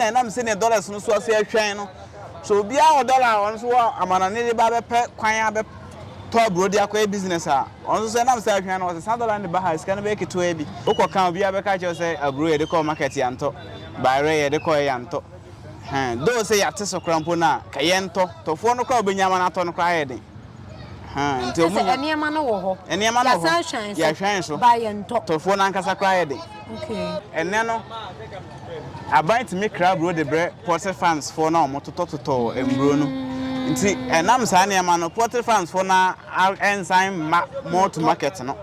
na ɛnam sɛnea dɔlas no so ase ahwan no. Sɛ obiara wɔ dɔla a ɔno nso wɔ amannɔne de ba bɛpɛ kwan abɛtɔ aburow de akɔyɛ business a, ɔno nso sɛ ɛnam sɛ ahwan no, wɔsesa dɔla no de ba ha a, sika no bɛyɛ ketewaa bi. Wokɔka a, obiara bɛka akyerɛ wo sɛ aburow yɛde kɔɔ market yɛantɔ, bayerɛ yɛde kɔeɛ yɛantɔ. Ɛhɛn, though sɛ yɛate so koraa mpo no a, ka yɛntɔ. Tɔfoɔ no koraa a wobɛnya ama no atɔ no koraa ayɛ den. Kyɛ sɛ nneɛma no wɔ hɔ. Nneɛma no wɔ hɔ. Yɛahwɛn so. Ba yɛntɔ. Tɔfoɔ no ankasa koraa yɛ den. Ɛnnɛ no, aban tumi kra aburo de brɛ poultry farms foɔ no a wɔtotɔtotɔ mmuro no. Nti ɛnam saa nneɛma no, poultry farms foɔ no ara nsan mma mall to market no.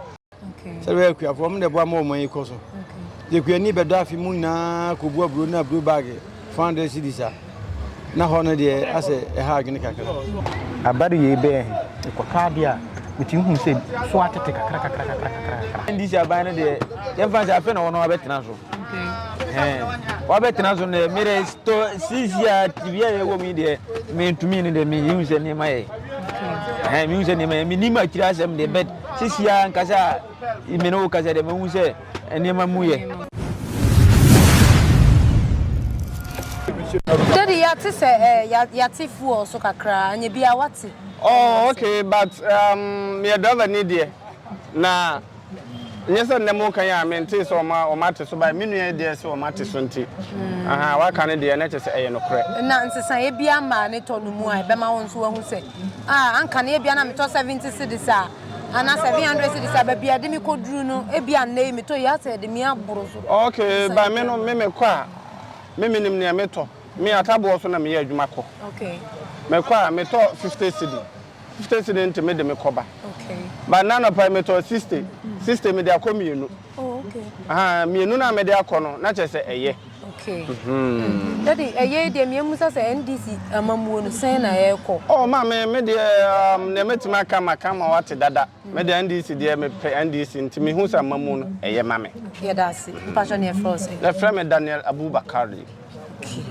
Sɛ bɛyɛ akuafoɔ, ɔmo na ɛboa ma ɔman yi kɔ so. Deɛ akuani bɛdɔ afe mu nyinaa kɔbu aburo ne aburo baage four hundred cedis a, na hɔ no deɛ asɛ ɛha adwene kakra. Abadu yei bɛyɛ he? Mekɔtɔ adeɛ a, metumi hu sɛ so atete kakrakakrakakra. NDC aban no deɛ, yɛmfa no sɛ afei na wɔn abɛtena so. Wɔabɛtena so no deɛ, me deɛ tɔ sisi a tibia a yɛwɔ mu yi deɛ, mentumi no deɛ, mehu sɛ nneɛma yɛ. Mehu sɛ nneɛma yɛ, menim akyire asɛm deɛ but. Seesei ara ankasa a me ne wo kasa deɛ, mahu sɛ nneɛma mu yɛ. Daddy, yɛate sɛ eh, yɛate fuel so kakra, anyɛ biara wate. Oh, okay, but um, meyɛ driver ni deɛ, na nyɛ sɛ nnɛ mo kan a mentee sɛ ɔma ɔma ate so bae me nua yi deɛ sɛ ɔma ate so nti hmm. aha waka no deɛ na kyɛ sɛ ɛyɛ nokorɛ na nsesaeɛ bi ama ne tɔ no mu a ɛbɛma wo nso wahu sɛ a anka no ebia na metɔ seventy cedis a anaa seven hundred cedis a baabi a ɛde me kɔduru no ebia nnɛ yi metɔ yi asɛ ɛde me aboro so. Ok, ba me no me mekɔ a me menim nea metɔ me ataboɔ so na meyɛ adwuma kɔ mekɔ a metɔ fifty cedi fifty cedi nti mede me kɔ ba ba nna anɔpa yi metɔɔ sixty sixty mede akɔ mmienu ahaa mmienu no a mede akɔ no na kyerɛ sɛ ɛyɛ. Okay. Mm-hmm. Daddy, ɛyɛ deɛ mmea musa sɛ NDC amammuo no sɛn na ɛrekɔ. Oh maame, me deɛ um, nea mɛtumi aka ma ka ma wate dada. Me deɛ NDC deɛ mepɛ NDC nti me hu sɛ amammuo no ɛyɛ ma me. Yɛda ase. Mpatsɔ ne ɛfrɛ ɔsɛ. Yɛfrɛ me Daniel Abubakar. Okay.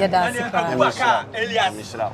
Yɛda ase paa. Abubakar Elias.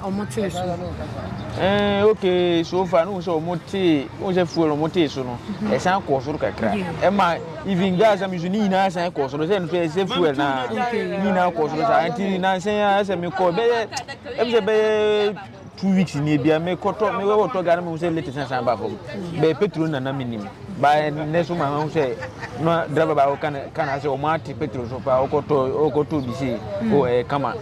Ɔmo tee so. Ɛɛ okay so far no sɛ ɔmo tee ɔmo sɛ fuel ɔmo tee so no ɛsan kɔɔ soro kakra ɛma even gas mi so ne nyinaa san kɔɔ soro sɛ nso ɛsɛ fuel na ne nyinaa kɔɔ soro saa nti nansan yɛ asɛ mi kɔ bɛyɛ ɛmu sɛ bɛyɛ two weeks ni ebia mi kɔtɔ mi wɔ tɔ gari mi sɛ late san san ba fam bɛyɛ petrol na na mi nim ba ne so ma ho sɛ na driver baako kan kan asɛ ɔmo ate petrol so paa ɔkɔtɔ ɔkɔtɔ bi se o ɛɛ kama.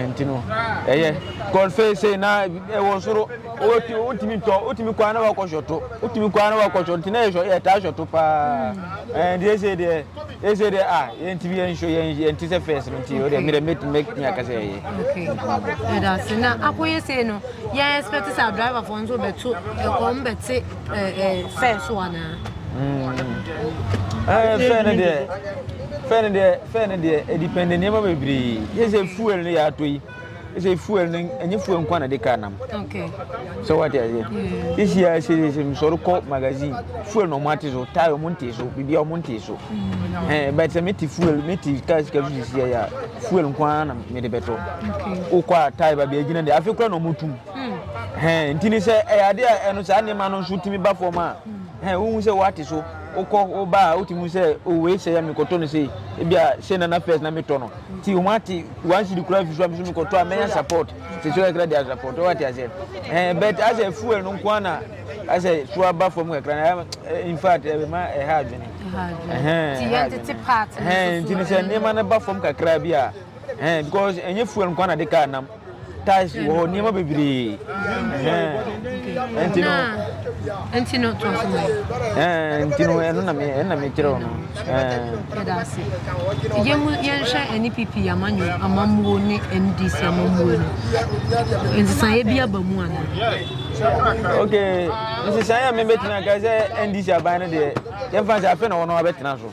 nti no ɛyɛ god fei sei na ɛwɔ soro wotumi tɔ wotumi kɔ na wakɔ hyɔto wotumi kɔ na wakɔ hyɔto nti na yɛ hyɔ yɛtaa hyɔto paa ɛn deɛ ɛsɛ deɛ ɛsɛ deɛ a yɛntumi yɛn hyɔ yɛn yɛn ti sɛ fɛs no nti o deɛ mìrɛ mɛtumi mɛtumi akasa yɛ yɛ. ɛda ase na akɔyɛ sei no yɛn expect sɛ driver fo nso bɛto ɛkɔm bɛte ɛɛ fɛs so anaa. ɛɛ fɛn no deɛ. Fɛn no deɛ fɛn no deɛ ɛdipɛnde nneɛma bebree yɛ sɛ fuel no yɛ atɔ yi sɛ fuel no ɛnyɛ fuel nkwa na de ka nam sɛ wate aseɛ ɛhyia sɛsɛ mesɔre kɔ magazine fuel na ɔmo ate so tae ɔmo nte so biribia ɔmo nte so mm. but sɛ mete fuel mete kaa sika so sisiɛ yɛ a fuel nkwa na mede bɛtɔ wokɔ a tae ba biagyina deɛ afei kora na ɔmo tum mm. nti ne sɛ ɛyɛ adeɛ a ɛno saa nneɛma no nso tumi ba fam a mm. wohu sɛ woate so Wokɔ hɔ ba a wotumi hu sɛ oh wei sɛe a mekɔtɔ no sei, ebia sei na na first na metɔ no nti wɔate one cedi koraa afi so a me nso mekɔtɔ a mɛnya support sisi kakra de support wate aseɛ ɛɛ but asɛ fuel no nko ara na asɛ so aba fam kakra na eh, in fact ɛma eh, ɛha adwene nti ne sɛ nneɛma no ba fam kakra bi a eh, because ɛnyɛ fuel nko ara na de kaa nam tiles wɔ hɔ nneɛma bebree ɛnti no ɛnti no to aso ma ɛnti no ɛno na me ɛna me kyerɛ no ɛda ase yɛn mu yɛnhwɛ ɛne pipi amanyo amammuo ne ndc amammuo no nsesaeɛ bi aba mu ana ok nsesaeɛ a mebɛtumi aka sɛ ndc aban no deɛ yɛmfa sɛ afei na wɔn abɛtena so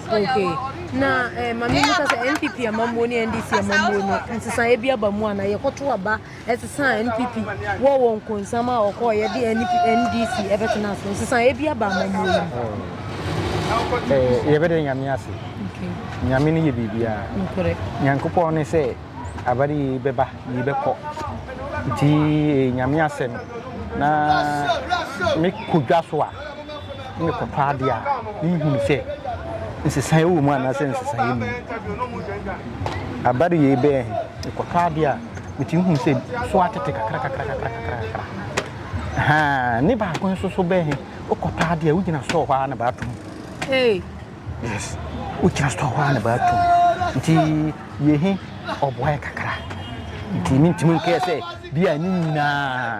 Okay. Na eh, ma me musa sɛ NPP amammuo ne NDC amammuo no nsesaeɛ bi aba mu ana yɛkɔto aba ɛsesa NPP wɔ wɔ nkonsam a ɔkɔɔ yɛde NDC ɛbɛtena so nsesaeɛ bi aba amammuo no oh. eh, yɛbɛdɛ nyame ase nyame no yɛ biribiaa nyankopɔn ne sɛ abade yi bɛba yi bɛkɔ nti eh, nyame asɛm na mekɔdwa so a mekɔtɔ adeɛ a menhunu sɛ nsesaeɛ wɔ mu anaasɛ nsesaeɛ mu abare yei bɛyɛ he mekɔtɔ adeɛ a metumi hunu sɛ so atete kakra kakra kakra kakra kakra haa ne baako nso so bɛyɛ he wokɔtɔ adeɛ a wogyina sɔɔ hɔ a na baato mu yes wogyina sɔɔ hɔ a na baato mu nti yɛ he ɔboaeɛ kakra nti mentumi nkɛɛ sɛ bi a ne nyinaa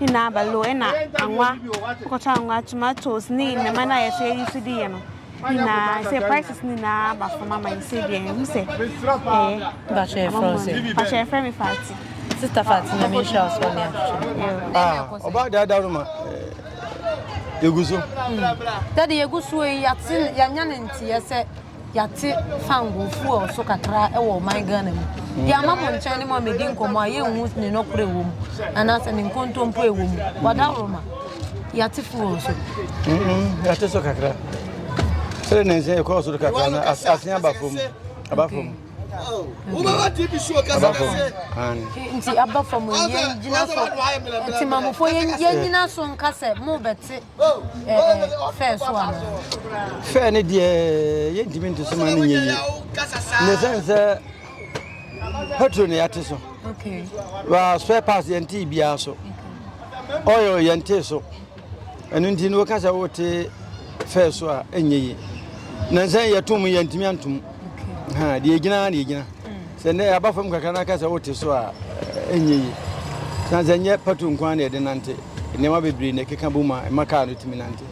ne n'abalo na anwa, akɔtɔ anwa, tomatoes ne nneɛma no a yɛsɛ yɛyi so de yɛ no nyinaa sɛ prices no nyinaa aba fam ama yɛ sɛ deɛ ɛhu sɛ ɛyɛ. Bàtchɛ yɛ fɛn sɛ. Bàtchɛ yɛ fɛn mi Fati. Sista Fati na mi nhyira ɔsɔ ni atwitwi. Ah, ɔba de adaw no ma. Yegu so. Dade yegu so yi yɛate yɛanya ne nteɛ sɛ Yɛate fangoo fuel so kakra wɔ ɔman Ghana mu. Deɛ ama mo nkyɛn ne mo a medi nkɔmmɔ a yɛnhu ne nɔkorɛ wɔ mu anaasɛ ne nkontompo ɛwɔ mu. Wadaworo ma yɛate fuel so. Yɛate so kakra. Sɛ ne nsɛ ɛkɔɔ so kakra no asen aba fam. Aba fam. Wobɛba TV so ɔkasa kɛse. Nti aba fam yɛn gyina so. Nti mamofo yɛn gyina so nka sɛ mo bɛte. ɛɛ fɛɛ so anaa. fɛɛ ne deɛ yɛntumi nte so ma no nyɛ yie ne sɛn sɛ petro ne yɛate so wa spare parts yɛntee biara so oil yɛntee so ɛno nti no woka sɛ wote fɛɛ so a ɛnyɛ yie na nsɛn yɛtom yɛntumi antom ha deɛ ɛgyina na ɛgyina mm. sɛ nnɛ aba fam kakra no aka sɛ wote so a ɛnyɛ yi san sɛ nyɛ pato nko a na ɛde nante nneɛma bebree na ɛkeka bɔ mu a ɛma kaa no tumi nante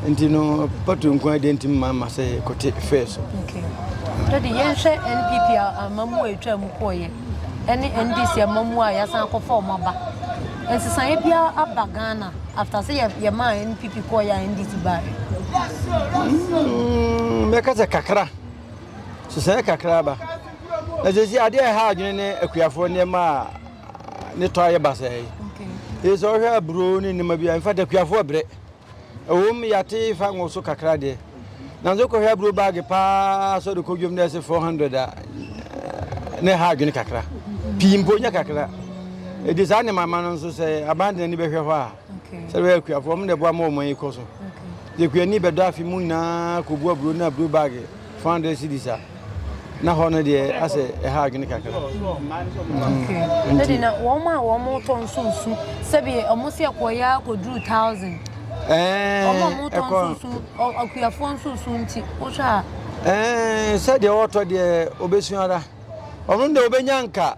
nti no pato nko a deɛ ntumi ma ma sɛ kɔte fɛɛ so dade yɛnhwɛ npp a ama mu a ɛtwa mu kɔɔyɛ ɛne NDC amamuo a yɛasan akɔfa wɔn aba. Nsesaeɛ biara aba Ghana after sɛ yɛmaa NPP kɔɔeɛ a NDC baeɛ? Mm, mɛka sɛ kakra sesaeɛ kakra aba na sɛsi adeɛ a ɛha adwene ne akuafoɔ nneɛma a ne tɔ ayɛ basɛe ɛsɛ sɛ wohwɛ aburo ne nneɛma bi a mfa da akuafoɔ brɛ Ɛwom, yɛate fa ngo so kakra deɛ, nanso wokɔhwɛ aburo baage paa sɛ wode kɔ dwam na ɛsɛ 400 a, na ɛha adwene kakra. Pii mpo nyɛ kakra. Ɛdi saa nneɛma ma no nso sɛ aban de n'ani bɛhwɛ hɔ a, sɛ bɛyɛ akuafoɔ, wɔn na ɛboa ma wɔn yi kɔ so. Yɛkuani bɛdɔ afe mu nyinaa kɔbu aburo ne aburo baage 400 cedis a. Na hɔ no deɛ asɛ ɛha adwene kakra. Ɛde na wɔn a wɔn tɔ nso nsu sɛbi wɔn si ɛkɔ ya akɔduru thousand. Ɛɛ wɔn a wɔn tɔ nso nsu akuafoɔ nso nsu nti wohwɛ a. Ɛɛ sɛdeɛ wɔtɔ deɛ obesu ara wɔn deɛ obenya nka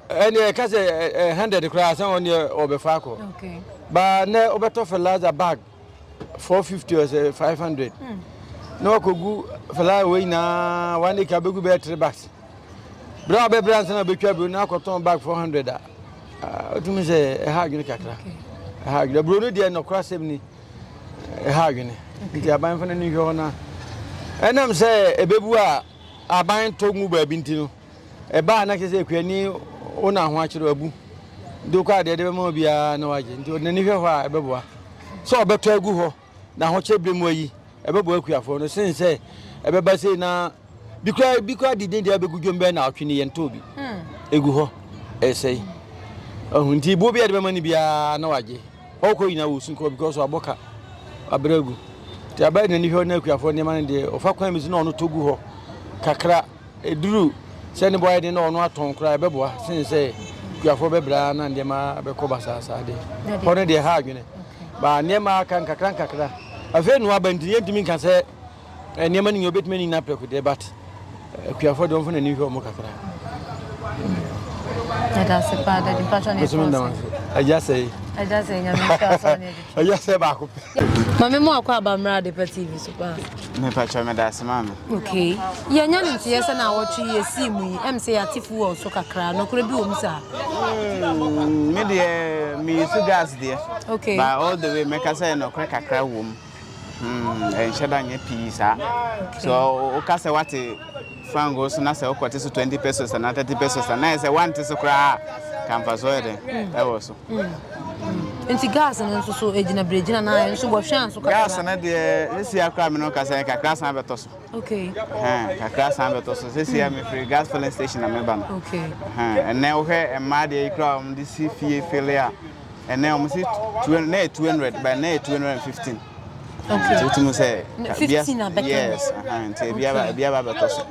ɛdeɛ ɛka sɛ hundred koraa sɛ wɔn deɛ wɔbɛfa akɔ. Baa nɛ wɔbɛtɔ fertilizer bag. 450 ɔsɛ 500 na wakɔgu fly wei nyinaa one acre bɛgu bɛyɛ three bags berɛ a wobɛbrɛ ansa na wobɛtwa bio na akɔtɔn bag 400 a wotumi sɛ ɛha adwene kakra ɛha adwene aburo no deɛ nɔkora asɛm ni ɛha adwene nti aban fa no ni hwɛ hɔ no ɛnam sɛ ɛbɛbu a aban tɔ ngu baabi nti no Ɛba a, na kyerɛ sɛ akuani wo na ahoakyere, abu. Nti wokɔ a, deɛ ɛde bɛma wo biara na wagye. Nti ɔde n'ani hwɛ hɔ a, ɛbɛboa. Sɛ ɔbɛtɔ agu hɔ na ahokyere berɛ mu ayi, ɛbɛboa akuafoɔ no sene sɛ ɛbɛba sei na bi koraa bi koraa de dɛn deɛ abɛgu dwom bɛyɛ nnawɔtwe ni yɛntɔɔ bi. Ɛgu hɔ, ɛsɛe. Ɔho nti boɔ biara de bɛma no biara na wagye. Ɔkɔ nyinaa wɔsu kɔ because wabɔ ka, wabrɛ agu. Nti aba de n'ani hwɛ hɔ na akuafoɔ nneɛma no deɛ ɔfa kwan bi so na ɔno tɔ gu hɔ kakra. Ɛduru sɛ ne bo ayɛ den na ɔno atɔn koraa ɛbɛboa sene sɛ kuafoɔ bɛbrɛ ara na nneɛma bɛkɔ basaasaa deɛ. Hɔ no deɛ ɛha adwene. Ba nneɛma aka nkakra nkakra. Afei nnoa aba nti yɛntumi nka sɛ eh, nneɛma no nyinaa wobɛtumi ani nyinaa prɛko deɛ but eh, kuafoɔ deɛ ɔmfa n'ani nhwɛ ɔmo kakra. Ɛda ase paa dadi mpatwa ne ɛkɔn sɛ. Agya sɛ yi. Agya sɛ nyame nhyɛ asɔ ne Ɛyɛ sɛ baako pɛ. Mame mo akɔ aba mmra Adepa TV so paa. Mepa kyɛ me da ase mame. Okay. Yɛ nya ne nteɛ sɛ na awɔtwe yɛ sii mu yi. Ɛm sɛ yɛ ate fu wɔ so kakra. Nɔkorɛ bi wɔ mu saa. Hmm, me deɛ me use gas deɛ. Okay. But all the way mɛka sɛ nɔkorɛ kakra wɔ mu. Hmm, ɛnhyɛ da nyɛ pii saa. Okay. So woka sɛ wate Fangoo so na sɛ wokɔte so twenty pesos anaa thirty pesos a, na ayɛ sɛ woante so koraa a, ka mfasoɔ yɛ dɛn ɛwɔ so. Nti gas no nso so ɛgyina berɛgyina na ayɛ nso wɔhwɛ anso kakra. Gas no deɛ sesia koraa me no ka sɛ kakra san bɛtɔ so. Okay. Ɛhɛn kakra san bɛtɔ so sesia hmm. mefiri gas filling station na meba no. Okay. Ɛhɛn ɛnɛ wohwɛ mmaa deɛ yi koraa wɔn de si fie fele a. ɛnɛ wɔn si two na yɛ two hundred bɛn na yɛ two hundred and fifteen nti wotum sɛ yes nti ebiaba bɛtɔ so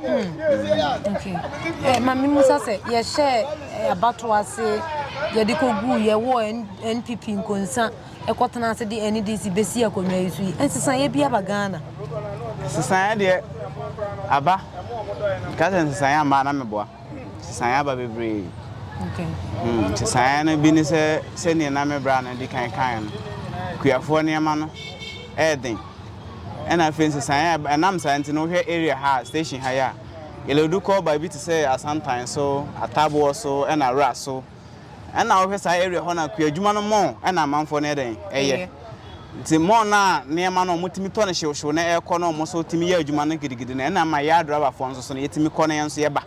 ma me musa sɛ yɛhyɛ abato ase yɛde kɔguu yɛwɔ npp nkonsa ɛkɔtena ase de ndc bɛsi akonnwa yi so yi nsesaeɛ bi aba ghana nsesaeɛ deɛ aba nka sɛ nsesaeɛ amaa na meboa Nsesaeɛ aba bebree. Okay. Hmm, nsesaeɛ no bi ne sɛ sɛdeɛ na me bra no di kan kan no, kuafoɔ nneɛma no ɛyɛ den. Ɛna afei nsesaeɛ a ɛnam saa nti no wohwɛ area ha station ha yɛ a, yɛlɛdu kɔ baabi te sɛ Asantan so, Ataboɔ so, ɛna Wura so. Ɛna wohwɛ saa area hɔ no a kuadwuma no mall ɛna amanfoɔ no yɛ dɛn ɛyɛ nti mall no a nneɛma no wɔn tumi tɔ no hyewhyew na ɛkɔ na wɔn nso tumi yɛ adwuma no gidigidi no ɛna ama yɛ adrabafoɔ nso so no yɛtumi kɔ na yɛn nso yɛba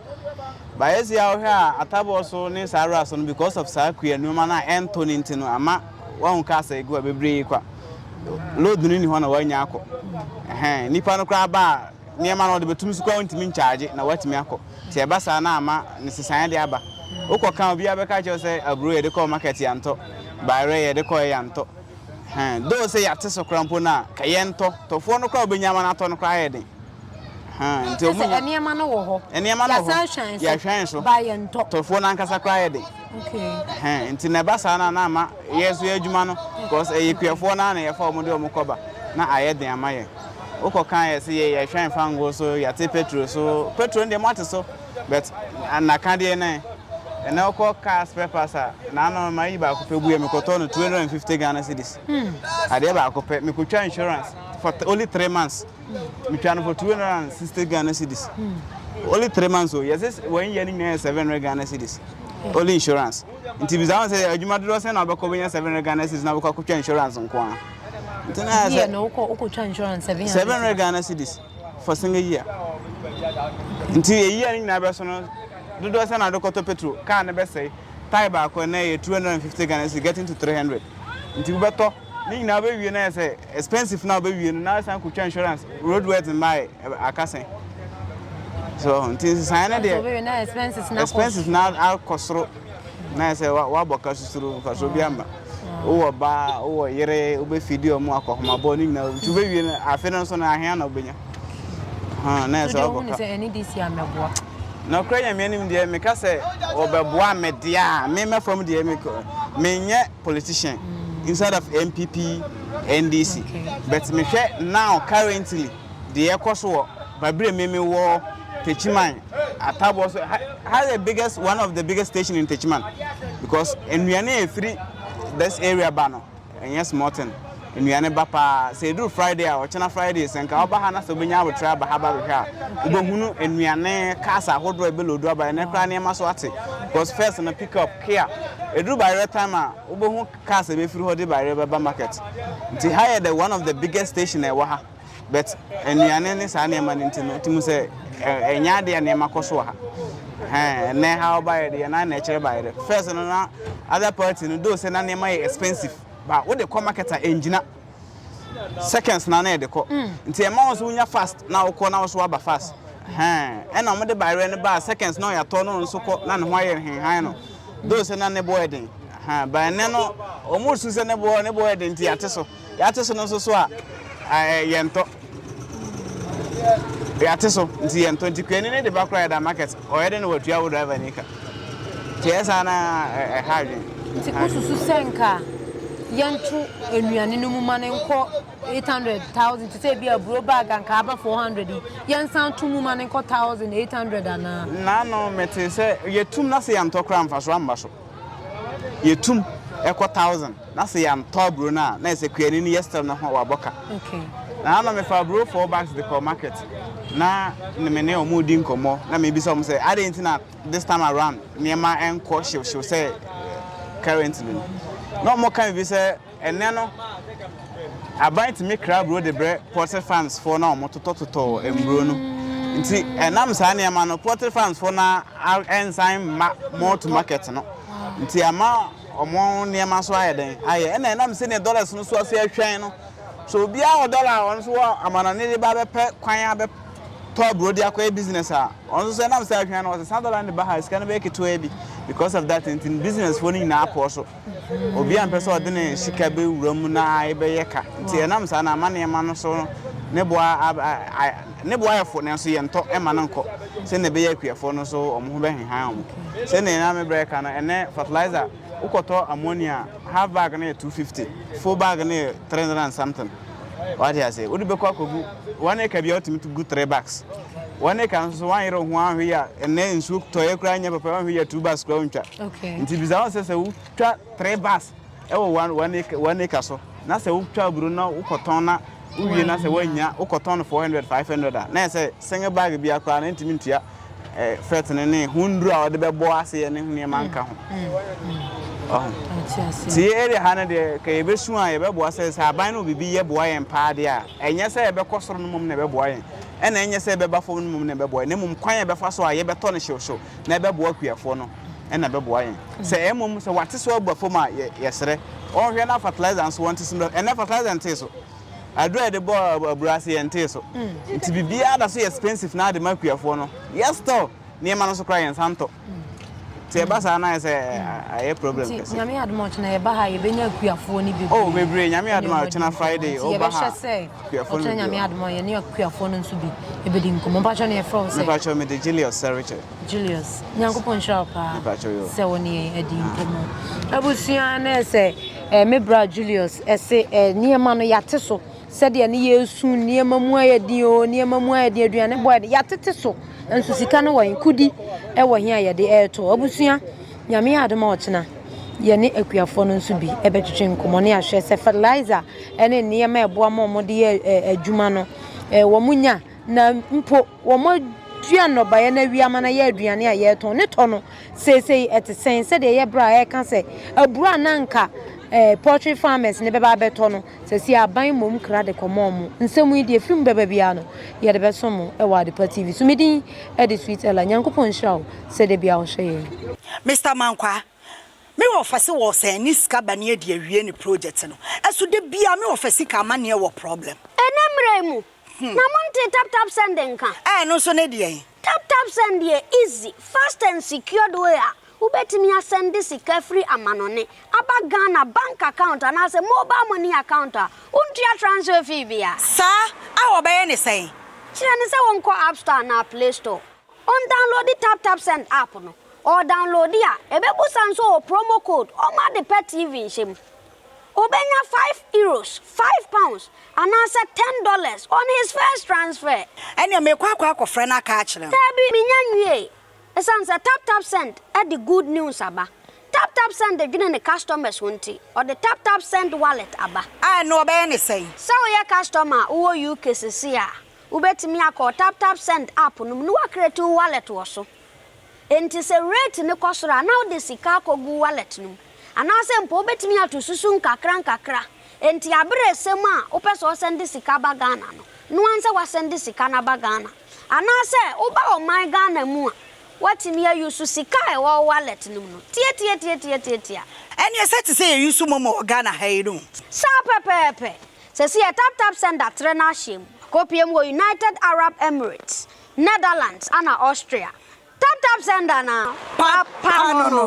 ba yɛsi a wohwɛ a atabɔ so ne saa ara so no because of saa kua nneɛma no a ɛntɔ no nti no ama wɔn ka asɛ egu a bebree kwa load no ni hɔ na wɔanya akɔ ɛhɛn nipa no koraa ba a. nneɛma no ɔde bɛtum so koraa wontumi nkyagye na woatumi akɔ. Sɛ ɛba saa na ama ne sesaeɛ de aba. Wokɔ ka a obiara bɛka akyerɛ wo sɛ aburo yɛde kɔɔ market yɛantɔ, bayerɛ yɛde kɔeɛ yɛantɔ. Hɛn, though sɛ yɛate so koraa mpo no a, ka yɛntɔ. Tɔfoɔ no koraa a wobɛnya ama no atɔ no koraa ayɛ den. Hɛn, nti ɔmo nya. Nneɛma no wɔ hɔ. Nneɛma no wɔ hɔ. Yɛahwɛn so. Ba yɛntɔ. Tɔfoɔ no ankasa koraa ayɛ den. Okay. Hɛn, nti na ɛba saa no a na ama yɛn nso yɛn adwuma no, because ɛyɛ kuafoɔ no ara na yɛfa ɔmo de ɔmo kɔba na ayɛ den ama yɛn. Wo kɔ kan yɛ se yɛ yɛ hwɛn fa ngo so yɛ te petro so petro no deɛ mo ate so but na ka deɛ nan ɛnɛ wo kɔ car spare parts a na ano ma yi baako pɛ buɛ me kɔ tɔ no 250 Ghana cedis hmm. adeɛ baako pɛ me kɔ twa insurance for only three months hmm. me twa no for 260 Ghana cedis hmm. only three months o yɛ se wɔn yɛ ne nyinaa yɛ 700 Ghana cedis only insurance nti bisa wɔn sɛ adwuma dodoɔ sɛ na wɔbɛkɔ bɛnya 700 Ghana cedis na wɔbɛkɔ akɔtwa insurance nko ara. nti na ayɛ sɛ wokɔtwa insurance seven hundred Ghana cedis for single year nti ɛyia no nyinaa bɛso no dodoɔ sɛ na adekɔtɔ petro kaa no bɛsɛe tae baako ɛnɛ yɛ two hundred and fifty Ghana cedis getting to three hundred nti wobɛtɔ ne nyinaa wobɛwie no ayɛ sɛ expensive na wobɛwie no na asan kɔtwa insurance road words mmae akasɛn so nti nsesaeɛ no deɛ expensive na akɔ soro na ayɛ sɛ woabɔ ka susuro mfasoɔ bi amma Wowɔ ɔba, wowɔ yere, wobɛfidi wɔn akɔhomabɔ ne nyinaa nti wobɛwie no afe no nso no ahea na wobɛnya. Na yɛ sɛ wɔbɛka. sɛ ɛne de si a mɛboa. Nɔkorɛ nyame anim deɛ meka sɛ wɔbɛboa me deɛ a me mɛfam deɛ me menyɛ politician inside of MPP NDC but mehwɛ now currently Deɛ ɛkɔ so wɔ Babire Meme wɔ Techiman ataboɔ so ha ha yɛ biggest one of the biggest station in Techiman because nnuane a ɛfiri this area ba no ɛnyɛ small thing nnuane ba paa sɛ ɛduru Friday a ɔkyena Friday sɛ nka ɔba ha na sɛ wobɛnya abotrɛ aba ha ba bɛhwɛ a wobɛhunu nnuane cars ahodoɔ a ɛbɛlodu aba ɛnɛ koraa nneɛma so ate because first no pick up kia ɛduru bayerɛ time a wobɛhu cars a ɛbɛfiri hɔ de bayerɛ bɛba market nti ha yɛ the one of the biggest station a ɛwɔ ha But nnuane ne saa nneɛma no nti no, nti mu sɛ ɛnyɛ adeɛ a nneɛma kɔ so wɔ ha. Ɛnɛ ha ɔbaeɛ deɛ na na ɛkyerɛ baeɛ dɛ. First no na other party no do sɛ na nneɛma yɛ expensive but wode kɔ market a ɛngyina. Seconds na na ɛde kɔ. Mm. Nti ɛma wo nso wonya fast na wokɔ na wo so aba fast. Ɛna wɔde baeɛ no baa seconds na ɔyɛatɔ no nso kɔ na ne ho ayɛ nhenhan no. Do sɛ na ne boɔ yɛ den. But ɛnɛ no wɔn resu sɛ ne boɔ ne boɔ yɛ den nti ate so. Yɛate so no nso so a, ɛɛ yɛntɔ. Yɛate so nti yɛntɔ nti kuani ne de ba koraa yɛda market ɔyɛ de na watua wo driver ni ka. Nti ɛyɛ saa na ɛha adwene. Nti wosusu sɛ nka yɛnto nnuane no mu ma no nkɔ 800000 te sɛ ebi aburo bag anka aba 400 yi yɛnsan to mu ma no nkɔ 1800 anaa. Naano mete sɛ yɛtum na sɛ yɛntɔ koraa mfaso amba so. Yetum kɔ Thousand na sɛ yɛanntɔ aburo no a na ayɛ sɛ kuani no yɛ still no ho wabɔ ka. Na na mefa aburo four bags de kɔ market na ne me ne wɔn redi nkɔmmɔ na mebisa wɔn sɛ adɛn nti na this time around nneɛma nkɔ hyewhyew sɛ currently no. Na wɔka biribi sɛ. Ɛnnɛ no, aban tumi kra aburo de brɛ poultry farmsfoɔ no a wɔtotɔtotɔ mmuro no. Nti ɛnam saa nneɛma no, poultry farmsfoɔ no ara nsan mma mall to market no. Nti ama wɔn nneɛma nso ayɛ dɛn ayɛ. Ɛna ɛnam sɛdeɛ dollars no so ase atwɛn no, so obiara wɔ dollar a ɔno nso wɔ amanɔne de ba bɛpɛ kwan abɛ tɔ aburo de akɔyɛ business a ɔno nso sɛ nam sɛ ahwɛn no ɔsesa dollar no de ba ha sika no bɛyɛ ketewa bi because of that nti businessfoɔ no nyinaa pɔɔ so. Obiara mpɛ sɛ ɔde ne sika bɛwura mu na ɛbɛyɛ ka, nti ɛnam saa no ama nneɛma no so ne bo ayɛ fo, nanso yɛntɔ mma no nkɔ sɛnea ɛbɛyɛ akuafoɔ no so wɔn ho bɛhehan wɔn. Sɛnea na me bra reka no, ɛnnɛ fertilizer, wokɔtɔ ammonia a, half bag no yɛ two fifty, full bag no yɛ three hundred and something. Wate ase? Wode bɛkɔ akɔgu one acre bia wotumi tu gu three bags. One acre nso so woanyere wo ho anhwe yɛ a ɛnɛ nsuo tɔeɛ koraa nyɛ papa woanhwe yɛ two bags koraa wontwa. Nti bisa ho sɛ sɛ wotwa three bags ɛwɔ one one acre one acre so na sɛ wotwa aburo na wokɔtɔn na wowie na sɛ woannya wokɔtɔn no four hundred five hundred a na yɛ sɛ single bag bia koraa na ntumi ntua. fɛt no ne ho nnuru a wɔde bɛbɔ aseɛ ne ho nneɛma nka ho nti yɛ area ha no deɛ ka yɛbɛsu a yɛbɛboa sɛ sɛ aban no biribi yɛ boa yɛn paa deɛ a ɛnyɛ sɛ yɛbɛkɔ soro no mmom na ɛbɛboa yɛn ɛna ɛnyɛ sɛ yɛbɛba fam no mmom na ɛbɛboa yɛn na mmom kwan a yɛbɛfa so a yɛbɛtɔ no hyewhyew na ɛbɛboa akuafoɔ no ɛna ɛbɛboa yɛn sɛ mmom sɛ wate so aba fam a yɛserɛ ɔnhwɛ na fertilizer nso wɔnte so ɛnɛ fertilizer ntee so Aduru a yɛde bɔ abura ase yɛntee so. Nti biribiara da so yɛ expensive na ade ma akuafoɔ no. Yɛ store nneɛma no so koraa yɛnsa ntɔ. Nti ɛba saa na ayɛ sɛ ayɛ problem kɛse. Nti nyame adom a ɔkyena yɛba ha yɛbɛnya akuafoɔ no bebree. Oh bebree nyame adom a ɔkyena Friday ɔba ha. Yɛbɛhyɛ sɛ ɔkyena nyame adom a yɛne akuafoɔ no nso bi ɛbɛdi nkɔmmɔ. Mpakyɛ no yɛfrɛ wo sɛ? Mepakyɛ mede Julius Sɛrekyɛ. Julius nyankopɔn nhyira wo paa sɛ wo ne yɛn adi nkɔmmɔ abusua ne sɛ eh, me bra Julius ɛse eh, eh, nneɛma no yɛate so sɛdeɛ ne yɛsu nneɛma mu ayɛ din o nneɛma mu ayɛ din aduane bɔ ayɛ yɛatete so nso sika no wɔ kodi ɛwɔ he a yɛde ɛretɔ abusua nyame yɛ adom a ɔkyena yɛne akuafoɔ no nso bi ɛbɛtwetwe nkɔmmɔ ne ahwɛ sɛ fertilizer ɛne nneɛma ɛboa ma wɔde yɛ adwuma no wɔn nya na mpo Wɔadua nnɔbaeɛ no awie ama no ayɛ aduane a yɛretɔn. Ne tɔ no, seesei ɛte sɛn? Sɛdeɛ ɛyɛ berɛ a yɛreka sɛ aburo a na anka eh, poultry farmers no bɛba abɛtɔ no, seesei aban mmom kra de kɔma wɔn. Nsɛm yi deɛ ɛfiri mu bɛba biara no, yɛde bɛso mo wɔ Adepa TV so. Me din de Sweet Ella. Nyankopɔn nhyira wo sɛ da biara wohwɛ yɛn. Mister Mankwaa, me wɔfa se wɔ sɛn ne sika ba ne adi awie ne project no. Ɛso da biara me wɔfa sika amaneɛ wɔ problem. Ɛnɛ mmerɛ yi mu, Na montee tap tap send nka? Ɛɛ ɛno nso ne deɛn? Tap tap send yɛ easy, fast and secured way a wobɛtumi asɛnde sika firi amanɔne aba Ghana bank account anaasɛ mobile money account a wontua transfer fee biara. Saa a wɔbɛyɛ ne sɛn? Kyerɛ no sɛ wɔnkɔ app store anaa play store, ɔndownloadi tap tap send app no, ɔɔdownloadi a ɛbɛbusa nso ɔɔ promo code ɔmma ade pa TV nhyɛ mu. Obenya five euros, five pounds, anaasɛ ten dollars on his first transfer. Ɛnneɛ mekɔ akɔ akɔfrɛ no aka akyerɛ no. Daabi, mennya nwiei. Esiane sɛ TapTapSend de good news aba, TapTapSend dwene ne customers ho nti, ɔde TapTapSend Wallet aba. A, ɛnneɛ wɔbɛyɛ no sɛn? Sɛ woyɛ customer a wowɔ UK seesei a, wobɛtumi akɔ TapTapSend app no mu na woacreate wo wallet wɔ so. Enti sɛ rate no kɔ soro a, na wode sika akɔgu wallet no mu. Anaasɛ mpo wobɛtumi ato susu nkakrankakra. Enti aberɛ resɛm a wopɛ sɛ ɔsɛnde sika ba Ghana no, noa nsɛ wasɛnde sika no aba Ghana. Anaasɛ woba ɔman Ghana mu a, woatumi a use sika a ɛwɔ wo wallet no mu no. Tiatiatiatiatiatia. Ɛneɛ sɛ te sɛ yɛ use momo wɔ Ghana ha yi no. Saa pɛpɛɛpɛ. Sɛsi yɛ taptapsend atrɛ no ahyɛm. Akɔpie mu wɔ United Arab Emirates. Netherlands ana Austria. Tap tap sender na papa no no.